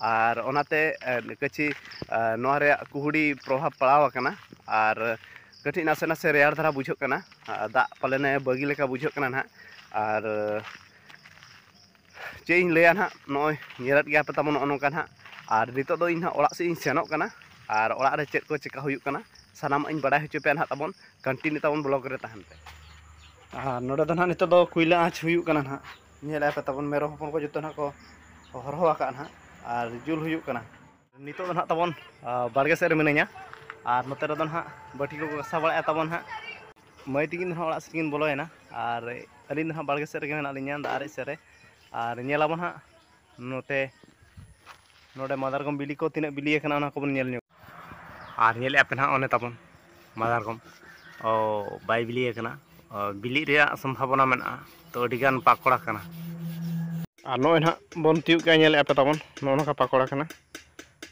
ᱟᱨ ᱚᱱᱟᱛᱮ ᱠᱟᱹᱪᱷᱤ ᱱᱚᱣᱟ ᱨᱮᱭᱟᱜ ᱠᱩᱦᱩᱲᱤ ᱯᱨᱚᱵᱷᱟᱵᱽ ᱯᱟᱲᱟᱣ ᱟᱠᱟᱱᱟ ᱟᱨ ᱠᱟᱹᱴᱤᱡ ᱱᱟᱥᱮ ᱱᱟᱥᱮ ᱨᱮᱭᱟᱲ ᱫᱷᱟᱨᱟ ᱵᱩᱡᱷᱟᱹᱜ ᱠᱟᱱᱟ ᱫᱟᱜ ᱯᱟᱞᱮᱱᱮ ᱵᱟᱹᱜᱤ ᱞᱮᱠᱟ ᱵᱩᱡᱷᱟᱹᱜ ᱠᱟᱱᱟ ᱱᱟᱦᱟᱜ ᱟᱨ ᱪᱮᱫ ᱤᱧ ᱞᱟᱹᱭᱟ ᱱᱟᱦᱟᱜ ᱱᱚᱜᱼᱚᱭ ᱧᱮᱞᱮᱫ ᱜᱮᱭᱟ ᱯᱮ ᱛᱟᱵᱚᱱ ᱱᱚᱜᱼᱚ ᱱᱚᱝᱠᱟ ᱱᱟᱦᱟᱜ ᱟᱨ ᱱᱤᱛᱚᱜ ᱫᱚ ᱤᱧ ᱦᱟᱸᱜ ᱚᱲᱟᱜ ᱥᱮᱫ ᱤᱧ ᱥᱮᱱᱚᱜ ᱠᱟᱱᱟ ᱟᱨ ᱚᱲᱟᱜ ᱨᱮ ᱪᱮᱫ ᱠᱚ ᱪᱤᱠᱟᱹ ᱦᱩᱭᱩᱜ ᱠᱟᱱᱟ ᱥᱟᱱᱟᱢᱟᱜ ᱤᱧ ᱵᱟᱲᱟᱭ ᱦᱚᱪᱚ ᱯᱮᱭᱟ ᱱᱟᱦᱟᱜ ᱛᱟᱵᱚᱱ ᱠᱚᱱᱴᱤᱱᱤᱭᱩ ᱛᱟᱵᱚᱱ ᱵᱞᱚᱜᱽ ᱨᱮ ᱛᱟᱦᱮᱱ ᱯᱮ ᱟᱨ ᱱᱚᱰᱮ ᱫᱚ ᱱᱟᱦᱟᱜ ᱱᱤᱛᱚᱜ ᱫᱚ ᱠᱚᱭᱞᱟ ᱟᱸᱪ ᱦᱩᱭᱩᱜ ᱠᱟᱱᱟ ᱱᱟᱦᱟᱜ ᱧᱮᱞ ᱟᱯᱮ ᱛᱟᱵᱚᱱ ᱢᱮᱨᱚᱢ ᱦᱚᱯᱚᱱ ᱠᱚ ᱡᱚᱛᱚ ᱱᱟᱦᱟᱜ ᱠᱚ ᱦᱚᱨᱦᱚ ᱟᱠᱟᱫ ᱱᱟᱦᱟᱜ ᱟᱨ ᱡᱩᱞ ᱦᱩᱭᱩᱜ ᱠᱟᱱᱟ ᱱᱤᱛᱚᱜ ᱫᱚ ᱱᱟᱦᱟᱜ ᱛᱟᱵᱚᱱ ᱵᱟᱲᱜᱮ ᱥᱮᱫ ᱨᱮ ᱢᱤᱱᱟᱹᱧᱟ ᱟᱨ ᱱᱚᱛᱮ ᱨᱮᱫᱚ ᱱᱟᱦᱟᱜ ᱵᱟᱹᱴᱤ ᱠᱚ ᱜᱟᱥᱟᱣ ᱵᱟᱲᱟᱭᱮᱫ ᱛᱟᱵᱚᱱ ᱱᱟᱦᱟᱜ ᱢᱟᱹᱭ ᱛᱤᱠᱤᱱ ᱫᱚ ᱱᱟᱦᱟᱜ ᱚᱲᱟᱜ ᱥᱮᱫ ᱠᱤᱱ ᱵᱚᱞᱚᱭᱮᱱᱟ ᱟᱨ ᱟᱹᱞᱤᱧ ᱫᱚ ᱱᱟᱦᱟᱜ ᱵᱟᱲᱜᱮ ᱥᱮᱫ ᱨᱮᱜᱮ ᱢᱮᱱᱟᱜ ᱞᱤᱧᱟ ᱫᱟᱜ ᱟᱨᱮᱡ ᱥᱮᱫ ᱨᱮ ᱟᱨ ᱧᱮᱞ ᱟᱵᱚᱱ ᱱᱟᱦᱟᱜ ᱱᱚᱛᱮ ᱱᱚᱰᱮ ᱢᱟᱫᱟᱨᱜᱚᱢ ᱵᱤᱞᱤ ᱠᱚ ᱛᱤᱱᱟᱹᱜ ᱵᱤᱞᱤ ᱟᱠᱟᱱᱟ ᱚᱱᱟ ᱠᱚᱵᱚᱱ ᱧᱮᱞ ᱧᱚᱜ ᱟᱨ ᱧᱮᱞᱮᱫ ᱟᱯᱮ ᱱᱟᱦᱟᱜ ᱚᱱᱮ ᱛᱟᱵᱚᱱ ᱢᱟᱫᱟᱨᱜᱚᱢ ᱵᱟᱭ ᱵᱤᱞᱤ ᱟᱠᱟᱱᱟ ᱵᱤᱞᱤᱜ ᱨᱮᱭᱟᱜ ᱥᱚᱢᱵᱷᱟᱵᱚᱱᱟ ᱢᱮᱱᱟᱜᱼᱟ ᱛᱚ ᱟᱹᱰᱤ ᱜᱟᱱ ᱯᱟᱠᱚᱲᱟ ᱠᱟᱱᱟ ᱟᱨ ᱱᱚᱜᱼᱚᱭ ᱱᱟᱦᱟᱜ ᱵᱚᱱ ᱛᱤᱭᱳᱜ ᱠᱮᱜᱼᱟ ᱧᱮᱞᱮᱫ ᱟᱯᱮ ᱛᱟᱵᱚᱱ ᱱᱚᱜᱼᱚ ᱱᱚᱝᱠᱟ ᱯᱟᱠᱚᱲᱟ ᱠᱟᱱᱟ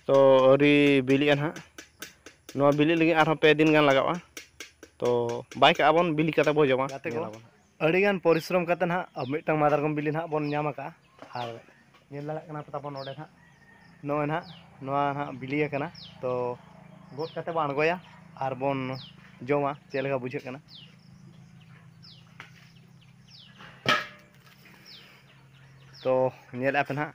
ᱛᱚ ᱟᱹᱣᱨᱤ ᱵᱤᱞᱤᱜᱼᱟ ᱱᱟᱦᱟᱜ ᱱᱚᱣᱟ ᱵᱤᱞᱤᱜ ᱞᱟᱹᱜᱤᱫ ᱟᱨᱦᱚᱸ ᱯᱮ ᱫᱤᱱ ᱜᱟᱱ ᱞᱟᱜᱟᱜᱼᱟ ᱛᱚ ᱵᱟᱭ ᱠᱟᱜᱼᱟ ᱵᱚᱱ ᱵᱤᱞᱤ ᱠᱟᱛᱮᱫ ᱵᱚᱱ ᱡᱚᱢᱟ ᱜᱟᱛᱮ ᱠᱚ ᱟᱹᱰᱤᱜᱟᱱ ᱯᱚᱨᱤᱥᱨᱚᱢ ᱠᱟᱛᱮ ᱱᱟᱦᱟᱜ ᱟᱵᱚ ᱢᱤᱫᱴᱟᱝ ᱢᱟᱫᱟᱨᱜᱚᱢ ᱵᱤᱞᱤ ᱱᱟᱦᱟᱜ ᱵᱚᱱ ᱧᱟᱢ ᱟᱠᱟᱫᱼᱟ ᱟᱨ ᱧᱮᱞ ᱫᱟᱲᱮᱭᱟᱜ ᱠᱟᱱᱟ ᱯᱮ ᱛᱟᱵᱚᱱ ᱱᱚᱰᱮ ᱱᱟᱦᱟᱜ ᱱᱚᱜᱼᱚᱭ ᱱᱟᱦᱟᱜ ᱱᱚᱣᱟ ᱱᱟᱦᱟᱜ ᱵᱤᱞᱤ ᱟᱠᱟᱱᱟ ᱛᱚ ᱜᱚᱫ ᱠᱟᱛᱮ ᱵᱚᱱ ᱟᱬᱜᱚᱭᱟ ᱟᱨ ᱵᱚᱱ ᱡᱚᱢᱟ ᱪᱮᱫ ᱞᱮᱠᱟ ᱵᱩᱡᱷᱟᱹᱜ ᱠᱟᱱᱟ ᱛᱚ ᱧᱮᱞᱮᱫᱼᱟ ᱯᱮ ᱱᱟᱦᱟᱜ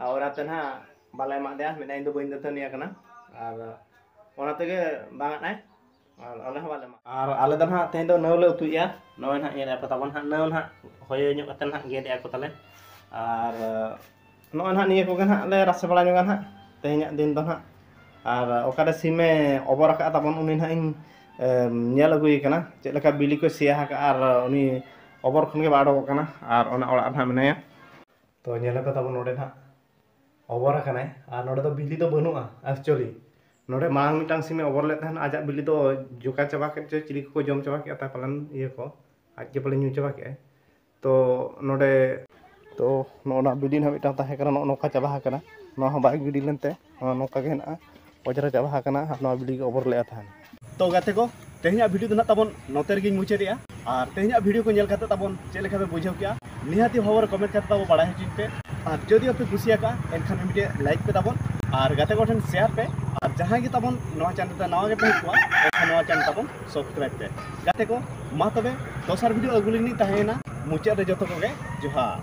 ᱟᱨ ᱚᱱᱟᱛᱮ ᱱᱟᱦᱟᱜ ᱵᱟᱞᱮ ᱮᱢᱟᱜ ᱫᱮᱭᱟ ᱢᱮᱱᱟᱭ ᱤᱧ ᱫᱚ ᱵᱟᱹᱧ ᱫᱟᱹᱛᱟᱹᱱᱤ ᱟᱠᱟᱱᱟ ᱟᱨ ᱚᱱᱟ ᱛᱮᱜᱮ ᱵᱟᱝ ᱟᱫ ᱟᱭ ᱟᱨ ᱟᱞᱮ ᱦᱚᱸ ᱵᱟᱞᱮ ᱮᱢᱟᱜ ᱟᱨ ᱟᱞᱮ ᱫᱚ ᱱᱟᱦᱟᱜ ᱛᱮᱦᱮᱧ ᱫᱚ ᱱᱟᱹᱣ ᱞᱮ ᱩᱛᱩᱭᱮᱜᱼᱟ ᱱᱚᱜᱼᱚᱭ ᱱᱟᱦᱟᱜ ᱧᱮᱞᱮᱜᱼᱟ ᱯᱮ ᱛᱟᱵᱚᱱ ᱱᱟᱦᱟᱜ ᱱᱟᱹᱣ ᱱᱟᱦᱟᱜ ᱦᱚᱭᱚ ᱧᱚᱜ ᱠᱟᱛᱮ ᱱᱟᱦᱟᱜ ᱜᱮᱫᱮᱜᱼᱟ ᱠᱚ ᱛᱟᱞᱮ ᱟᱨ ᱱᱚᱜᱼᱚᱭ ᱱᱟᱦᱟᱜ ᱱᱤᱭᱟᱹ ᱠᱚᱜᱮ ᱱᱟᱦᱟᱜ ᱞᱮ ᱨᱟᱥᱮ ᱵᱟᱲᱟ ᱧᱚᱜᱟ ᱱᱟᱦᱟᱜ ᱛᱮᱦᱮᱧᱟᱜ ᱫᱤᱱ ᱫᱚ ᱱᱟᱦᱟᱜ ᱟᱨ ᱚᱠᱟᱨᱮ ᱥᱤᱢᱮ ᱚᱵᱚᱨ ᱟᱠᱟᱫ ᱛᱟᱵᱚᱱ ᱩᱱᱤ ᱱᱟᱦᱟᱜ ᱤᱧ ᱧᱮᱞ ᱟᱹᱜᱩᱭᱮ ᱠᱟᱱᱟ ᱪᱮᱫ ᱞᱮᱠᱟ ᱵᱤᱞᱤ ᱠᱚᱭ ᱥᱮᱭᱟ ᱟᱠᱟᱫᱼᱟ ᱟᱨ ᱩᱱᱤ ᱚᱵᱚᱨ ᱠᱷᱚᱱ ᱜᱮ ᱵᱟᱭ ᱚᱰᱚᱠᱚᱜ ᱠᱟᱱᱟ ᱟᱨ ᱚᱱᱟ ᱚᱲᱟᱜ ᱨᱮ ᱦᱟᱸᱜ ᱢᱮᱱᱟᱭᱟ ᱛᱚ ᱧᱮᱞ ᱟᱠᱟᱫᱟ ᱵᱚᱱ ᱱᱚᱰᱮ ᱦᱟᱸᱜ ᱚᱵᱚᱨ ᱟᱠᱟᱱᱟᱭ ᱟᱨ ᱱᱚᱰᱮ ᱫᱚ ᱵᱤᱞᱤ ᱫᱚ ᱵᱟᱹᱱᱩᱜᱼᱟ ᱮᱠᱪᱩᱭᱮᱞᱤ ᱱᱚᱰᱮ ᱢᱟᱲᱟᱝ ᱢᱤᱫᱴᱟᱝ ᱥᱤᱢᱮ ᱚᱵᱚᱨ ᱞᱮᱫ ᱛᱟᱦᱮᱱ ᱟᱡᱟᱜ ᱵᱤᱞᱤ ᱫᱚ ᱡᱚᱠᱟ ᱪᱟᱵᱟ ᱠᱮᱫ ᱪᱚᱭ ᱪᱤᱞᱤ ᱠᱚᱠᱚ ᱡᱚᱢ ᱪᱟᱵᱟ ᱠᱮᱫᱼᱟ ᱛᱟᱭ ᱯᱟᱞᱮᱱ ᱤᱭᱟᱹ ᱠᱚ ᱟᱡ ᱜᱮ ᱯᱟᱞᱮᱱ ᱧᱩ ᱪᱟᱵᱟ ᱠᱮᱫᱼᱟᱭ ᱛᱚ ᱱᱚᱰᱮ ᱛᱚ ᱱᱚᱜᱼᱚ ᱱᱟ ᱵᱤᱞᱰᱤᱝ ᱦᱚᱸ ᱢᱤᱫᱴᱟᱝ ᱛᱟᱦᱮᱸ ᱠᱟᱱᱟ ᱱᱚᱜᱼᱚ ᱱᱚᱝᱠᱟ ᱪᱟᱵᱟ ᱟᱠᱟᱱᱟ ᱱᱚᱣᱟ ᱦᱚᱸ ᱵᱟᱭ ᱜᱤᱰᱤ ᱞᱮᱱᱛᱮ ᱱᱚᱣᱟ ᱱᱚᱝᱠᱟ ᱜᱮ ᱦᱮᱱᱟᱜᱼᱟ ᱚᱡᱽᱨᱟ ᱪᱟᱵᱟ ᱟᱠᱟᱱᱟ ᱟᱨ ᱱᱚᱣᱟ ᱵᱤᱞᱰᱤᱝ ᱜᱮ ᱚᱵᱚᱨ ᱞᱮᱫᱼᱟ ᱛᱟᱦᱮᱱ ᱛᱚ ᱜᱟᱛᱮ ᱠᱚ ᱛᱮᱦᱮᱧᱟᱜ ᱵᱷᱤᱰᱤᱭᱳ ᱫᱚ ᱱᱟᱜ ᱛᱟᱵᱚᱱ ᱱᱚᱛᱮ ᱨᱮᱜᱮᱧ ᱢᱩᱪᱟᱹᱫᱮᱜᱼᱟ ᱟᱨ ᱛᱮᱦᱮᱧᱟᱜ ᱵᱷᱤᱰᱤᱭᱳ ᱠᱚ ᱧᱮᱞ ᱠᱟᱛᱮ ᱛᱟᱵᱚᱱ ᱪᱮᱫ ᱞᱮᱠᱟ ᱯᱮ ᱵᱩᱡᱷᱟᱹᱣ ᱠᱮᱜᱼᱟ ᱱᱤᱦᱟᱹᱛᱤ ᱦᱚᱵᱚᱨ ᱠᱚᱢᱮᱱᱴ ᱠᱟᱛᱮ ᱛᱟᱵᱚ ᱵᱟᱲᱟᱭ ᱦᱚᱪᱚᱧ ᱯᱮ ᱟᱨ ᱡᱩᱫᱤ ᱟᱯᱮ ᱠᱩᱥᱤᱭᱟᱠᱟᱜᱼᱟ ᱮᱱᱠᱷᱟᱱ ᱢᱤᱫᱴᱮᱡ ᱞᱟᱭᱤᱠ ᱯᱮ ᱛᱟᱵᱚᱱ ᱟᱨ ᱜᱟᱛᱮ ᱠᱚᱴᱷᱮᱱ ᱥᱮᱭᱟᱨ ᱯᱮ ᱟᱨ ᱡᱟᱦᱟᱸᱭ ᱜᱮ ᱛᱟᱵᱚᱱ ᱱᱚᱣᱟ ᱪᱮᱱᱮᱞ ᱨᱮ ᱱᱟᱣᱟ ᱜᱮᱯᱮ ᱦᱮᱡ ᱠᱚᱜᱼᱟ ᱮᱱᱠᱷᱟᱱ ᱱᱚᱣᱟ ᱪᱮᱱᱮᱞ ᱛᱟᱵᱚᱱ ᱥᱚᱵᱥᱠᱨᱟᱭᱤᱵ ᱯᱮ ᱜᱟᱛᱮ ᱠᱚ ᱢᱟ ᱛᱚᱵᱮ ᱫᱚᱥᱟᱨ ᱵᱷᱤᱰᱤᱭᱳ ᱟᱹᱜᱩ ᱞᱟᱹᱜᱤᱫ ᱛᱟᱦᱮᱸᱭᱮᱱᱟ ᱢᱩᱪᱟᱹᱫ ᱨᱮ ᱡᱚᱛᱚ ᱠᱚᱜᱮ ᱡᱚᱦᱟᱨ